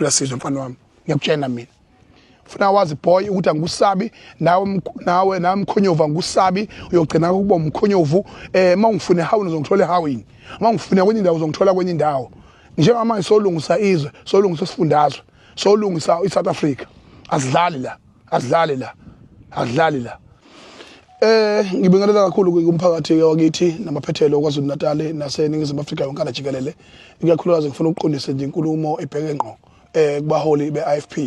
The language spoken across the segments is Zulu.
uyasizwa mfana wami ngiyakutshena mina funa wazi boy ukuthi angikusabi nawe nawe nawe mkhonyovu angikusabi uyogcina ukuba umkhonyovu eh mawungifune how uzongithola ehawini mawungifune kwenye indawo uzongithola kwenye indawo njengamanje solungisa izwe solungisa isifundazwe solungisa iSouth Africa asidlali la asidlali la asidlali la Eh ngibingelela kakhulu kumphakathi wakithi namaphethelo kwaZulu Natal naseningizimu Afrika yonke ala jikelele ikakhulukazi ngifuna ukuqondisa nje inkulumo ebheke ngqo eh kubaholi beIFP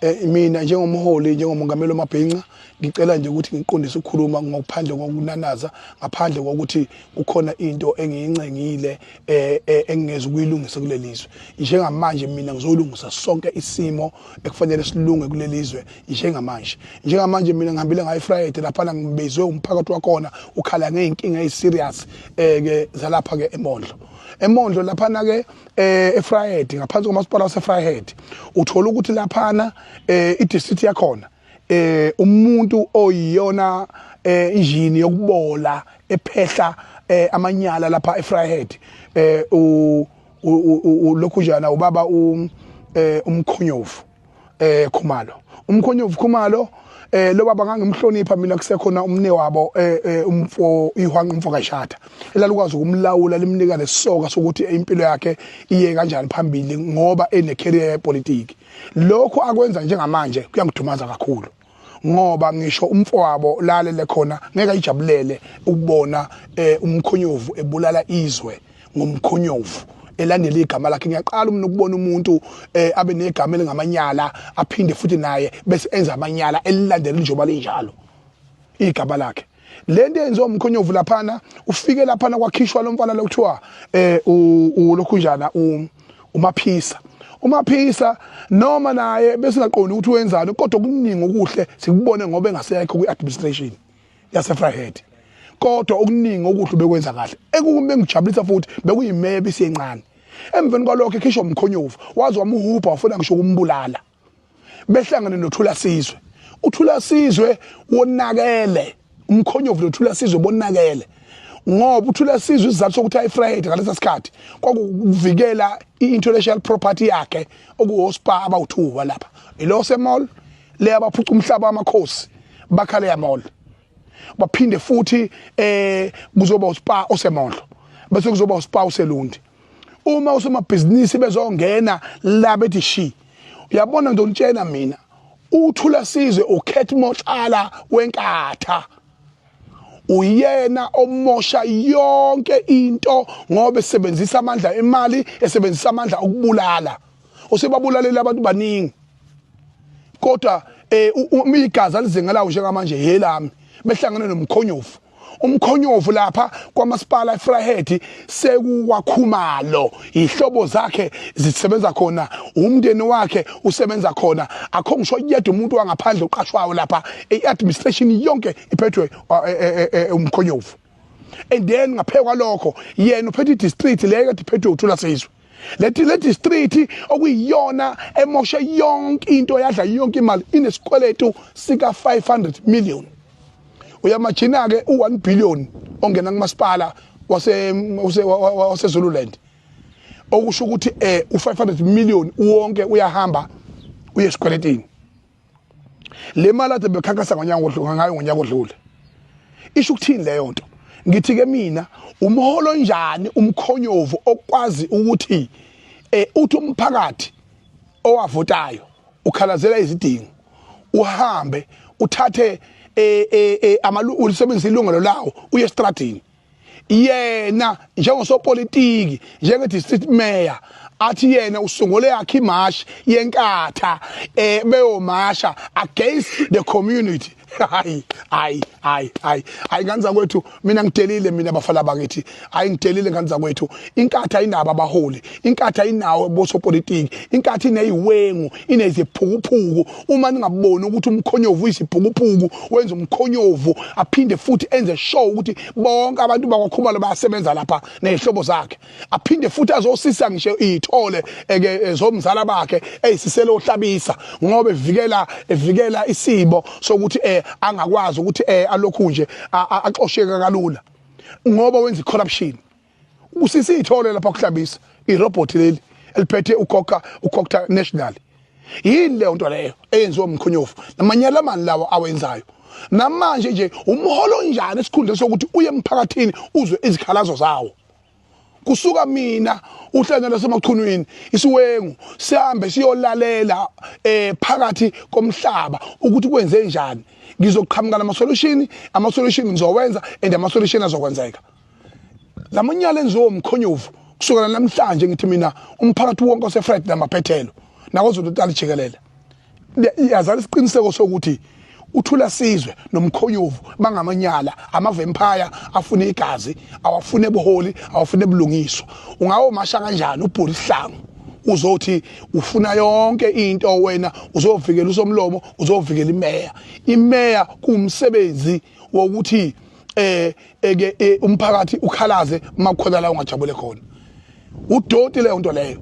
eh mina njengomholi njengomongameli omabhinca ngicela nje ukuthi ngiqondise ukukhuluma ngokuphandle kokunanaza ngaphandle kokuthi kukhona into engiyincengile eh, eh engingezi ukuyilungisa kulelizwe njengamanje mina ngizolungisa sonke isimo ekufanele silunge kulelizwe njengamanje njengamanje mina ngihambile ngayi Friday lapha na ngibizwe umphakathi wakhona ukhala ngeenkinga eziserious eh ke zalapha ke eMondlo eMondlo lapha na ke eh eFriday ngaphansi komasipala waseFriday uthola ukuthi lapha na eh idistrict yakhona eh umuntu oyiyona eh injini yokubola ephehla eh amanyala lapha eFriday eh u ulokhujana ubaba um eh, umkhonyovu eh Khumalo umkhonyovu Khumalo eh lo baba ngangimhlonipha mina kusekhona umne wabo eh, eh umfo ihwanqa umfo kashada elalukwazi ukumlawula limnika lesoka sokuthi impilo yakhe iye kanjani phambili ngoba ene career yepolitiki lokho akwenza njengamanje kuyangidumaza kakhulu ngoba ngisho umfowabo lalele khona ngeke ayijabulele ukubona eh, umkhonyovu ebulala izwe ngomkhonyovu elandela igama lakhe ngiyaqala umna ukubona umuntu eh, abe negama elingamanyala aphinde futhi naye bese enza amanyala elilandela njengoba linjalo igama lakhe le nto eyenziwa umkhonyovu laphana ufike laphana kwakhishwa lo mfana lokuthiwa eh ulokhu njana umaphisa umaphisa noma naye besingaqondi ukuthi wenzani kodwa kuningi okuhle sikubone ngoba engasekho kwi-administration yasefryhead kodwa okuningi okuhle bekwenza kahle ekube engijabulisa futhi bekuyimeya bisiyencane emveni kwalokho ekhishwa umkhonyovu waze wamuhubha wafuna ngisho ukumbulala behlangane nothula sizwe uthula sizwe wonakele umkhonyovu nothula sizwe bonakele ngoba uthula sizwe isizathu sokuthi ayifriday ngalesa sikhathi kwakuvikela i-intellectual property yakhe okuwospa abawuthuwa lapha ilo semall le abaphuca umhlaba wamakhosi bakhale yamall baphinde futhi eh kuzoba uspa osemondlo bese kuzoba uspa oselundi uma usomabhizinisi bezongena la bethi shi uyabona nje ungitshena mina uthula sizwe ukhet motshala wenkatha uyena omosha yonke into ngoba esebenzisa amandla emali esebenzisa amandla okubulala usebabulalela abantu baningi kodwa eh umigaza lizengalawo njengamanje yelami behlangene nomkhonyovu umkhonyovu lapha kwamasipala eFryhead sekuwakhumalo ihlobo zakhe zisebenza khona umndeni wakhe usebenza khona akho ngisho yedwa umuntu wangaphandle uqashwayo lapha iadministration yonke iphethwe uh, e, e, e, umkhonyovu and then ngaphekwa lokho yena uphethe idistrict leyo kade iphethwe uthula sizwe leti leti street okuyiyona emoshe yonke into yadla yonke imali inesikweletu sika 500 million uyamajina ke u 1 billion ongena kumasipala wase wase Zululand okusho ukuthi eh u 500 million wonke uyahamba uye esikweletini le mali ade bekhankasa ngonyaka odlule ngayo ngonyaka odlule isho ukuthini leyo nto ngithi ke mina umholo njani umkhonyovu okwazi ukuthi eh uthi umphakathi owavotayo ukhalazela izidingo uhambe uthathe eh eh, eh amalu ulisebenzisa ilungelo lawo uye estradini yena njengosopolitiki njenge-district mayor athi yena usungule yakhe imashi yenkatha um beyomasha against the community hayi hayi hayi hayi hayi ngane zakwethu mina ngidelile mina bafana bakithi hayi ngidelile ngane zakwethu inkatha inabo abaholi inkatha inawo bosopolitiki inkatha ineyiwengu ineziphukuphuku uma ningaboni ukuthi umkhonyovu uyisibhukupuku wenza umkhonyovu aphinde futhi enze show ukuthi bonke abantu bakwakhumalo bayasebenza lapha nezihlobo zakhe aphinde futhi azosisa ngisho ithole eke zomzala bakhe eyisiselo ohlabisa ngoba evikela evikela isibo sokuthi eh angakwazi ukuthi eh alokhu nje axosheka kalula ngoba wenza corruption usisi ithole lapha kuhlabisa irobot leli eliphethe ukhokha ukhokha national yini leyo nto leyo eyenziwa umkhonyovu namanyala amani lawa awenzayo namanje nje umholo onjani esikhundla sokuthi uye emphakathini uzwe izikhalazo zawo kusuka mina uhlanya lasemachunwini isiwengu sihambe siyolalela eh phakathi komhlaba ukuthi kwenze njani ngizoqhamuka nama solution ama solution ngizowenza and ama solution azokwenzeka lamanyala enziwo mkhonyovu kusukela namhlanje ngithi mina umphakathi wonke osefred namaphethelo nakozulu tali jikelele yazala isiqiniseko sokuthi uthula sizwe nomkhoyovu bangamanyala amavempire afuna igazi awafune buholi awafune bulungiswa ungawo masha kanjani ubhuli sihlangu uzothi ufuna yonke into wena uzovikela usomlomo uzovikela imeya imeya kumsebenzi wokuthi eh eke eh, umphakathi ukhalaze uma kukhona la ungajabule khona udoti leyo nto leyo